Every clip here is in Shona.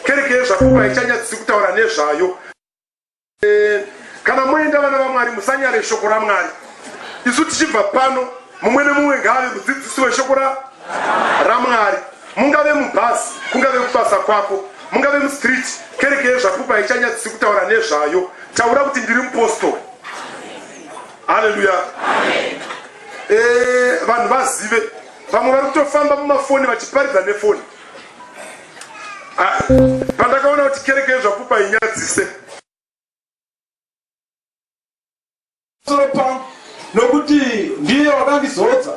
Kereke yezvapupu haichanyadzisi kutaura nezvayo. Eh, kana moenda vana vaMwari musanyare shoko raMwari. Isu tichibva pano mumwe nemumwe ngaave mudzidzisi weshoko ra raMwari. Mungave mubhazi, kungave kubasa kwako, mungave mustreet, kereke yezvapupu haichanyadzisi kutaura nezvayo. Taura kuti ndiri mupostori. Haleluya. Eh, vanhu vazive. Vamwe vari kutofamba mumafoni vachiparidza nefoni. pandakaona kuti kereke yezvapupa inyadzise soro pangu nokuti ndiye wakandizodza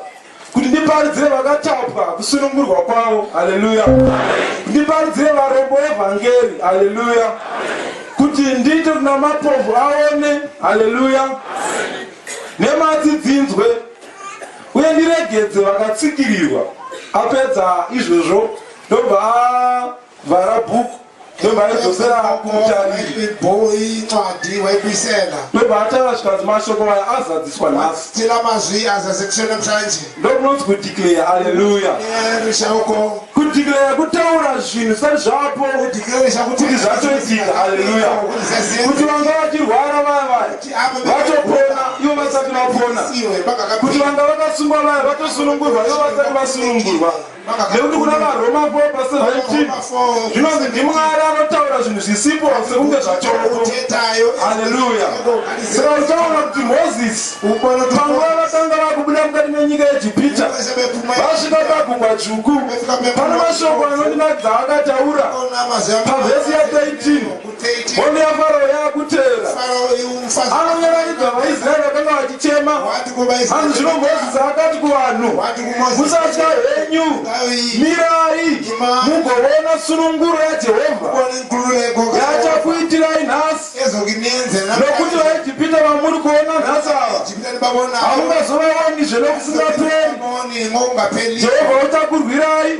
kuti ndiparidzire vakatapwa kusunungurwa kwavo haleluya ndiparidzire varombo evhangeri haleluya kuti ndiite kuna mapovu aone haleluya nematsi dzinzwe uye ndiregedze vakatsikirirwa apedza izvozvo ndobva avhara book ndobva aidzosera kumutariri boy ncwadi waikuisela ndobva ataura zvikanzi mashoko aya azadziswa nhasi tila mazwi azazekiswe namhlanje ndokunonzi kudeclare aleluya rishauko kudeclare kutaura zvinhu sati zvapo kuti zvatoitika aleluya kuti vanga vachirwara vaya vaya vatopona ivo vasati vapona kuti vanga vakasungwa vaya vatosunungurwa ivo vasati vasunungurwa nekuti kuna varoma 4 pa 17 zvinonzi ndimwari anotaura zvinhu zvisipo sekunge zvachokoutayo haleluya saka uchaona kuti mozisi panguva vatanga vakubuda mukati menyika yejipita vasvika pagungwa dzvuku pane mashoko anondinakidza akataura pavhesi ya 13 13. Hondo yaFarao yaakutevera. Farao uyu mufazi. Anonyaradza vaIsraeri vakanga vachichema. Wati kuvaIsraeri. Vanhu zvino Mozisi akati kuvanhu, Wati kuMozisi. Musatya henyu, Ngavi. mirai Imai. mugoona sununguro yaJehovha Kone nkululeko. yaachakuitirai nhasi, Ezokinenzela. nokuti vaIjipita vamuri kuona nhasi ava haungazovawanizve nokusingaperi jehovha uchakurwirai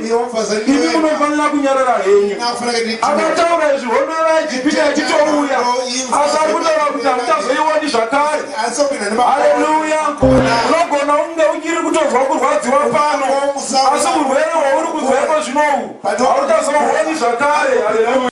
imi munofanira kunyarara henyu akataura izvi hondo yevaijipita yachitouya asi ari kutaura kuti hamuchazoiwoni zvakare haleluya unogona unge uchiri kutonzwa kurwadziwa pano asi urwere hwauri kunzwaiko zvinohu hauchazohoni zvakare haleluya